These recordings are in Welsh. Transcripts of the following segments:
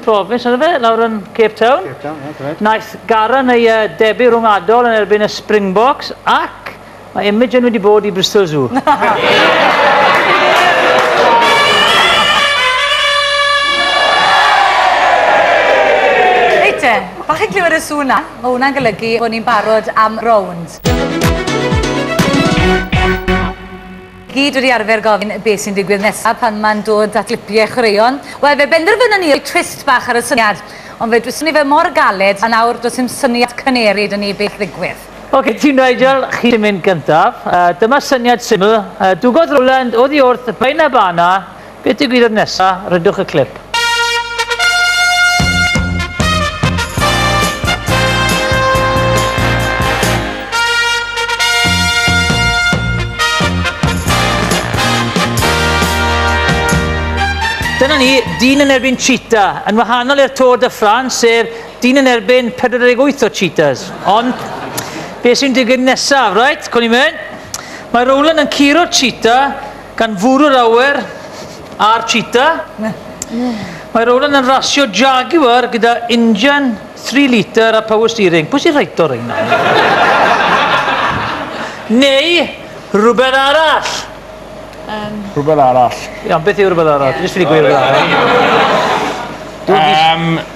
Province, yna fe, lawr yn Cape Town. Cape Town, ie, correct. Naeth Garan ei uh, debu rhwngwladol yn erbyn y Springboks ac mae Imogen wedi bod i Bristol Zoo. Reit te, pa chi'n clywed y sŵn na? Mae hwnna'n golygu bod ni'n barod am rownd. Gyd wedi arfer gofyn beth sy'n digwydd nesaf pan mae'n dod at lipiau chwaraeon. Wel, fe benderfynon ni roi twist bach ar y syniad, ond fe dwyswn i fe mor galed a nawr does dim syniad cyneru 'da ni beth ddigwydd. Ok, ti Nigel, chi sy'n mynd gyntaf. Dyma syniad syml. Dwgodd Roland oddi wrth Baenabana Beth ddigwyddodd nesa? Rydwch y clip. Dyna ni, dyn yn erbyn cheetah. Yn wahanol i'r Tour de France, sef dyn yn erbyn 48 o cheetahs. Ond, beth sy'n digwydd nesaf, right? Cwn i'n mynd. Mae Rowland yn curo cheetah Gan fwrw'r awyr a'r cheetah, mae Roland yn rasio Jaguar gyda injan 3 litr a power steering. Pwy sy'n rhaid o reina? Neu rhywbeth arall? Um. Rhywbeth arall. Iawn, beth yw rhywbeth arall? Dwi jyst wedi gweud rhywbeth arall. Um,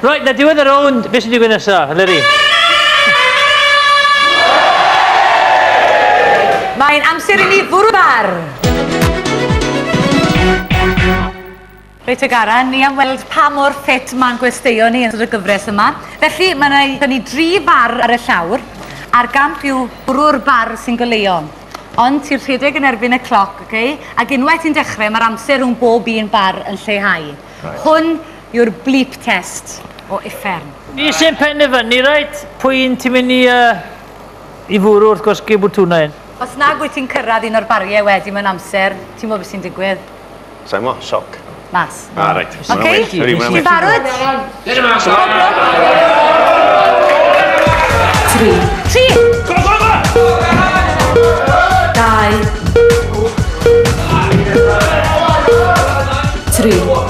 Right, na diwedd y rownd, beth sy'n digwydd nesaf, Eleri? Mae'n amser i ni fwrw bar! Reit te Garan, ni am weld pa mor ffit mae'n gwesteion ni yn ystod y gyfres yma. Felly, mae yna i ni dri bar ar y llawr, a'r gamp yw bwrw'r bar sy'n goleuo. Ond ti'n rhedeg yn erbyn y cloc, okay? ac unwaith ti'n dechrau, mae'r amser rhwng bob un bar yn lleihau. Right. Hwn yw'r bleep test o uffern. Ni sy'n penderfynu reit pwy un ti'n mynd i yy i fwrw wrth gwrs gei bwtwna un. Os nag wyt ti'n cyrraedd un o'r barie wedi mewn amser, ti'n gwybod beth sy'n digwydd. Sai mo, sioc. Mas. Ah reit. Ok, ti'n barod? Dere mas! Pob lwc! Tri. Tri! Go go go! Dau. Tri.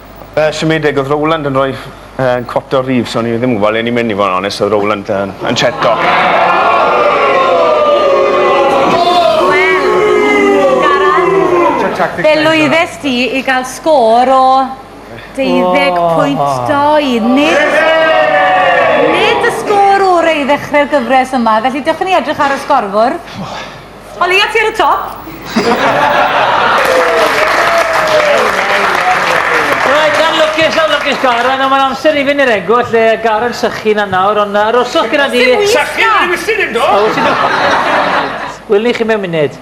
Yy siomedig odd Rowland yn roi yy cwat o Reeves o'n i ddim yn gwbo le o'n i'n myn' i fo' yn onest odd Rowland yn yn cheto. tactics Fe lwyddes di i gael sgôr o 12.2. Nid, nid y sgôr orau i ddechrau'r gyfres yma, felly dewch i ni edrych ar y sgorfwrdd. O leia ti ar y top! Reit, yn lwcus, yn lwcus Garon, ond mae'n amser i fynd i'r egw, lle y Garon sychu na nawr, ond aroswch gyda di. Sychu yn yr ewyllyn hyn do? O, ti'n do? Wyl ni chi mewn munud.